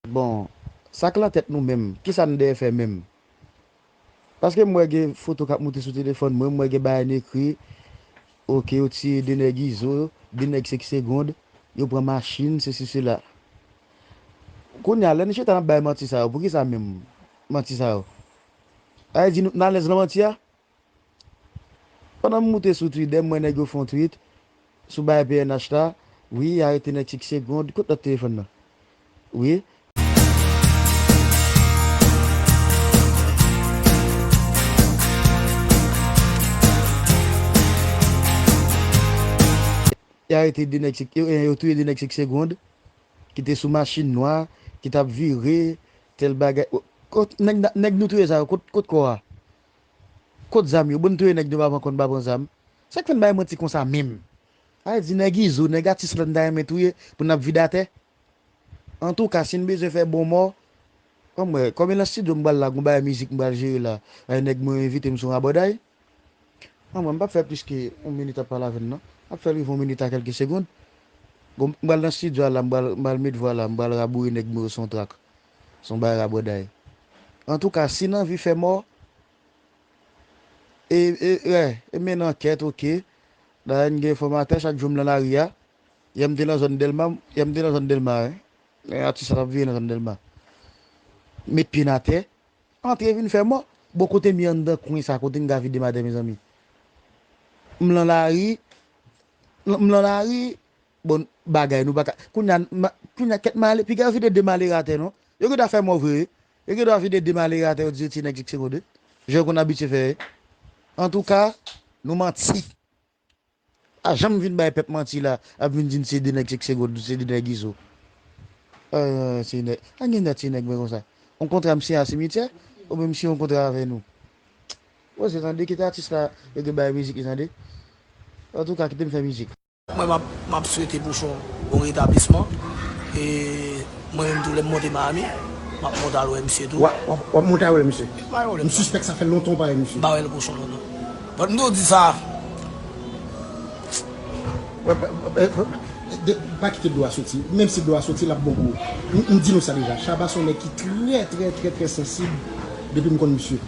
Bon sak lan tèt nou menm kisa n dèyè fè menm paske m wè gen foto kap moute sou telefòn mwen m wè gen bagay n ekri ok yo tiye 2 nèg izo 2 nèg 5 segond yo pran machin sesi sela kounya lè n chita nap bay manti sa yo poukisa menm manti sa yo sa vle di nou t nan alèz nan manti a. Pandan m moute sou Twitter m wè nèg yo fè yon tweet sou bagay pnh la wi y arete nèg chik segond kot lòt telefòn nan wi. Y arete 2 nèg chik ebyen yo touye 2 nèg chik segond ki te sou machin nwa ki t ap vire tèl bagay kot nèg nou touye sa yo kot kò a. Kot zam yo? Bon n touye nèg nou pa pran kont pa pran zam. Sak fè n bay manti konsa menm? Al di nèg izo, nèg atis la n ta renmen touye pou n ap vide atè. Antouka si n bezwen fè bon mò, an m wè, kòm e nan stidyo m pral la gon bagay mizik m pral jere la, ay nèg mwen yo envite m sou yon rabòday. An m wè m pap fè plis ke yon minit ap pale avè n non. M ap fè l rive yon minit a kèlke segond. Gon, m pral nan stidyo a la m pral, m pral met vwa la, m pral raboure nèg mwen yo sou yon track. Son bagay rabòday. Antouka si n anvi fè mò e e e mennen ankèt ok. Dayè n gen enfòmatè chak jou m nan lari a. Yè m te nan zòn Dèlma yè m te nan zòn Dèlma wi. Lè atis la t ap vire nan zòn Dèlma. Met pye n atè. Antre vin fè mò. Bon kote m ye anndan kwen sa kote m ka vide m atè mezanmi. M lan lari m lan lari. bon bagay nou paka kounya kounya kèt male piga yo vide de malere atè non yo gendwa fè mò vre wi yo gendwa vide de malere atè yo di se ti nèg jiksegonde jan yo konn abitye fè ye antouka nou manti pa janm vin bay pèp manti la ap vin di n se de nèg jiksegonde se de nèg izo ooh ti nèg an gen dat ti nèg mwen konsa on kontra m siyen a simityè oubyen m siyen on kontra avè nou koze tande kite atis la yo gen bay mizik li tande antouka kite m fè mizik. Mwen map swete pouchon bon retablisman e mwen menm tou lèm monte Miami map monte al wè misye tou. Wap monte al wè misye? Pa gen pwoblèm sa. M sispèk sa fè lontan ou pa wè misye. M pa wèl pouchon lontan. But m toujou di sa. Pa kite dlo a soti. Menm si dlo a soti lap bon pou ou. M di nou sa deja. Shabba son nèg ki trè trè trè trè sansib depi m konn misye.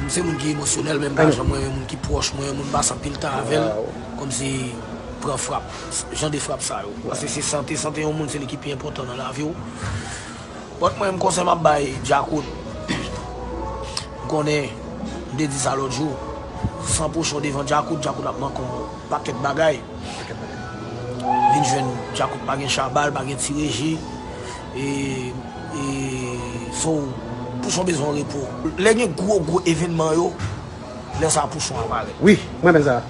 M se moun ki emosyonèl menm ka jan mwen yon moun ki pwòch mwen, yon moun m pase anpil tan avè l, kòmsi pran frap, jan de frap sa yo. Paske se sante, sante yon moun se li ki pi enpòtan nan lavi w. Bòt mwen menm konsèy m ap bay Djakout, m konnen m te di sa lòt jou, san pochon devan Djakout, Djakout ap manke w pakèt bagay. Vin jwenn Djakout pa gen chabal, pa gen ti reji e. E so pouchon bezwen repo. Lè gen gwo gwo evenman yo lè sa pouchon a parèt. Wi m renmen sa.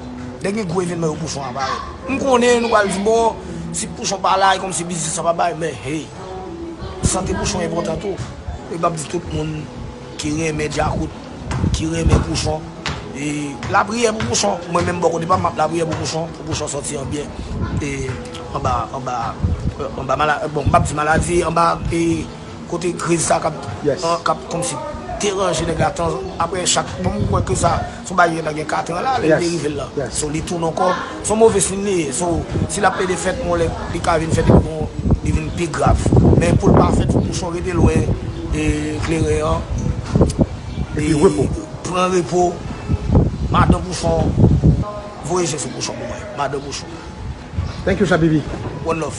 Lè gen gwo evenman yo pouchon a parèt. M konnen nou pral di bon si pouchon pa la e kòmsi biznis la pa bay men hey sante pouchon enpòtan tou e m ap di tout moun. Ki renmen djakout, ki renmen pouchon. E lapriyè pou pouchon. Mwen menm bò kote pam map lapriyè pou pouchon, pou pouchon sòti an byen e anba anba anba mala bon m pap di maladi anba e kote kriz sa kap kap kòmsi deranje nèg la tan aprè chak bon m kwè ke sa son bagay ki gentan gen 4 an la lè li te rive l lan. So li tounen ankò. Son move sin li ye so si lap plede fèt yon lè li ka vin fèt li gon li vin pi grav men poul pa fèt fòk pouchon rete lwen kleren an epi pran repo madan pouchon voye je sou pouchon pou mwen madan pouchon. Thank you Shabibi. One love.